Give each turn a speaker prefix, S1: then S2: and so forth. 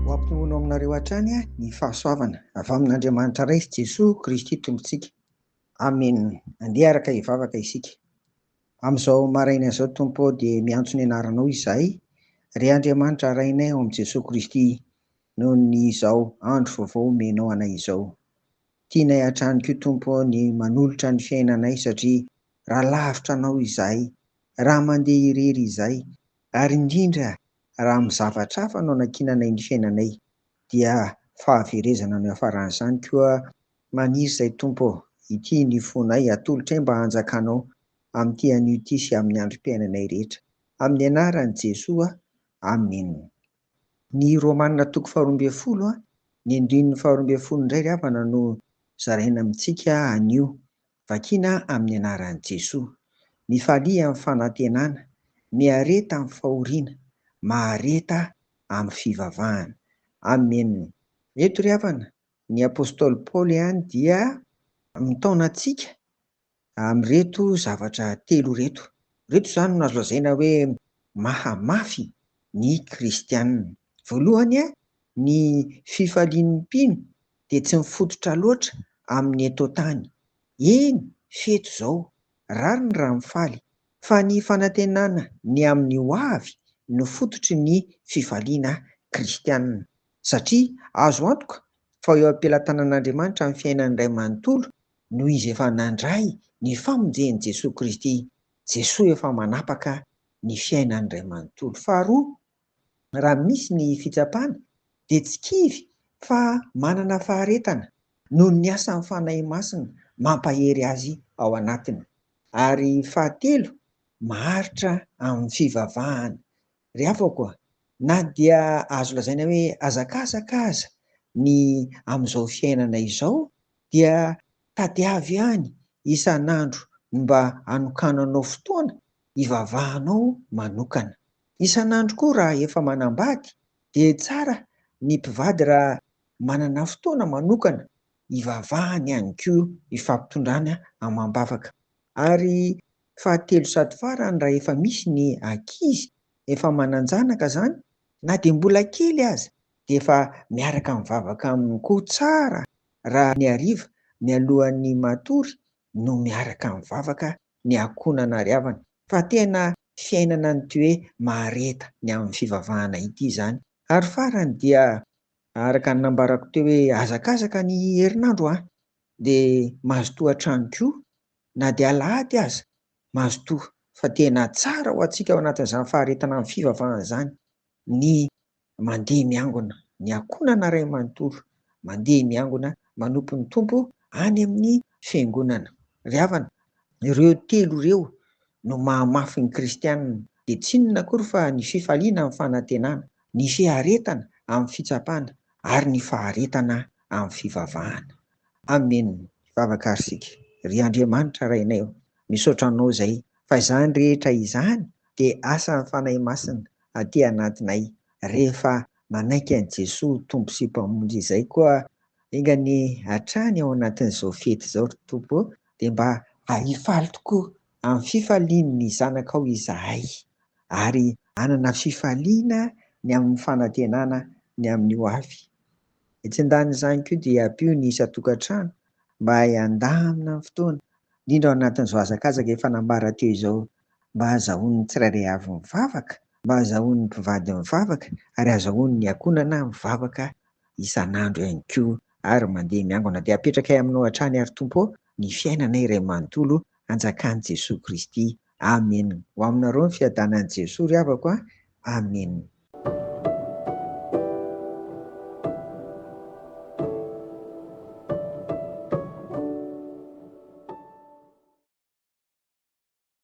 S1: Hoampinono aminareo hatrany ny fahasoavana avy amin'Andriamanitra Ray sy Jesoa Kristy Tompontsika. Amena. Andeha araka hivavaka isika. Amin'izao maraina izao, Tompo ô, dia miantso ny Anaranao izahay. Ry Andriamanitra Rainay ao amin'i Jesoa Kristy, noho ny izao andro vaovao omenao anay izao. Tianay hatrany koa, Tompo ô, ny manolotra ny fiainanay satria raha lavitra anao izahay, raha mandeha irery izahay, ary indrindra raha amin'ny zavatra hafa no anankinanay ny fiainanay, dia fahaverezana no iafaran'izany, koa maniry izay Tompo ô, ity ny fonay, atolotray mba hanjakanao amin'ity anio ity sy amin'ny androm-piainanay rehetra, amin'ny anaran'i Jesoa, Amen. Ny Romana toko faharoa ambin'ny folo, ny andininy faharoa ambin'ny folo indray ry havana no zaraina amintsika anio, Vakina amin'ny anaran'i Jesoa. Mifalia amin'ny fanantenana, miareta amin'ny fahoriana, mahareta amin'ny fivavahana. Amen. Eto ry havana, ny apostoly Paoly ihany dia mitaona antsika amin'ireto zavatra telo ireto. Ireto izany no azo lazaina hoe mahamafy ny kristiana. Voalohany, ny fifalian'ny mpino dia tsy mifototra loatra amin'ny eto tany. Eny, fety izao, rariny raha mifaly, fa ny fanantenana ny amin'ny ho avy no fototry ny fifaliana kristiana. Satria azo antoka fa eo am-pelatanan'Andriamanitra amin'ny fiainany iray manontolo no izy efa nandray ny famonjen'i Jesoa Kristy. Jesoa efa manapaka ny fiainany iray manontolo. Faharoa, raha misy ny fitsapana dia tsy kivy fa manana faharetana noho ny asan'ny Fanahy Masina mampahery azy ao anatiny. Ary fahatelo, maharitra amin'ny fivavahana. Ry havako a! Na dia azo lazaina hoe hazakazaka aza ny amin'izao fiainana izao dia tadiavo ihany isan'andro ny mba hanokananao fotoana hivavahanao manokana. Isan'andro koa raha efa manambady dia tsara ny mpivady raha manana fotoana manokana hivavahany ihany koa hifampitondrana amam-bavaka. Ary fahatelo sady farany raha efa misy ny ankizy efa manan-janaka izany na dia mbola kely aza dia efa miaraka mivavaka aminy koa tsara raha ny hariva mialohan'ny matory no miaraka mivavaka ny akona nariavany fa tena fiainana an'ity hoe mahareta ny amin'ny fivavahana ity izany. Ary farany dia araka ny nambarako teo hoe hazakazaka ny herinandro an! dia mazotoa hatrany koa na dia alahady aza mazotoa fa tena tsara ho antsika ao anatin'izany faharetana amin'ny fivavahana izany ny mandeha miangona, ny ankohonana iray manontolo mandeha miangona manompo ny Tompo any amin'ny Fiangonana. Ry havana, ireo telo ireo no mahamafy ny kristiana, dia tsy inona akory fa ny fifaliana amin'ny fanantenana, ny fiaretana amin'ny fitsapana ary ny faharetana amin'ny fivavahana. Amen! Hivavaka ary isika. Ry Andriamanitra Rainay ô, misaotra Anao izay fa izany rehetra izany dia asan'ny Fanahy Masina aty anatinay rehefa manaiky an'i Jesoa ho Tompo sy Mpamonjy izay koa enga anie hatrany ao anatin'izao fety izao ry Tompo ô dia mba hifaly tokoa amin'ny fifalian'ny zanakao izahay ary hanana fifaliana ny amin'ny fanantenana ny amin'ny ho avy. Etsy an-danin'izany koa dia ampio ny isan-tokantrano mba handamina ny fotoana indrindra ao anatin'izao hazakazaka efa nambara teo izao mba hazahoan' ny tsirairay avy mivavaka, mba hazahoan' ny mpivady mivavaka, ary hazahoan' ny akonana mivavaka isan' andro ihany koa, ary mandeha miangona, dia apetrakay aminao hatrany ary Tompo ô, ny fiainanay iray manontolo, anjakan' Jesoa Kristy. Amena. Ho aminareo ny fiadanan' Jesoa ry havako a. Amena.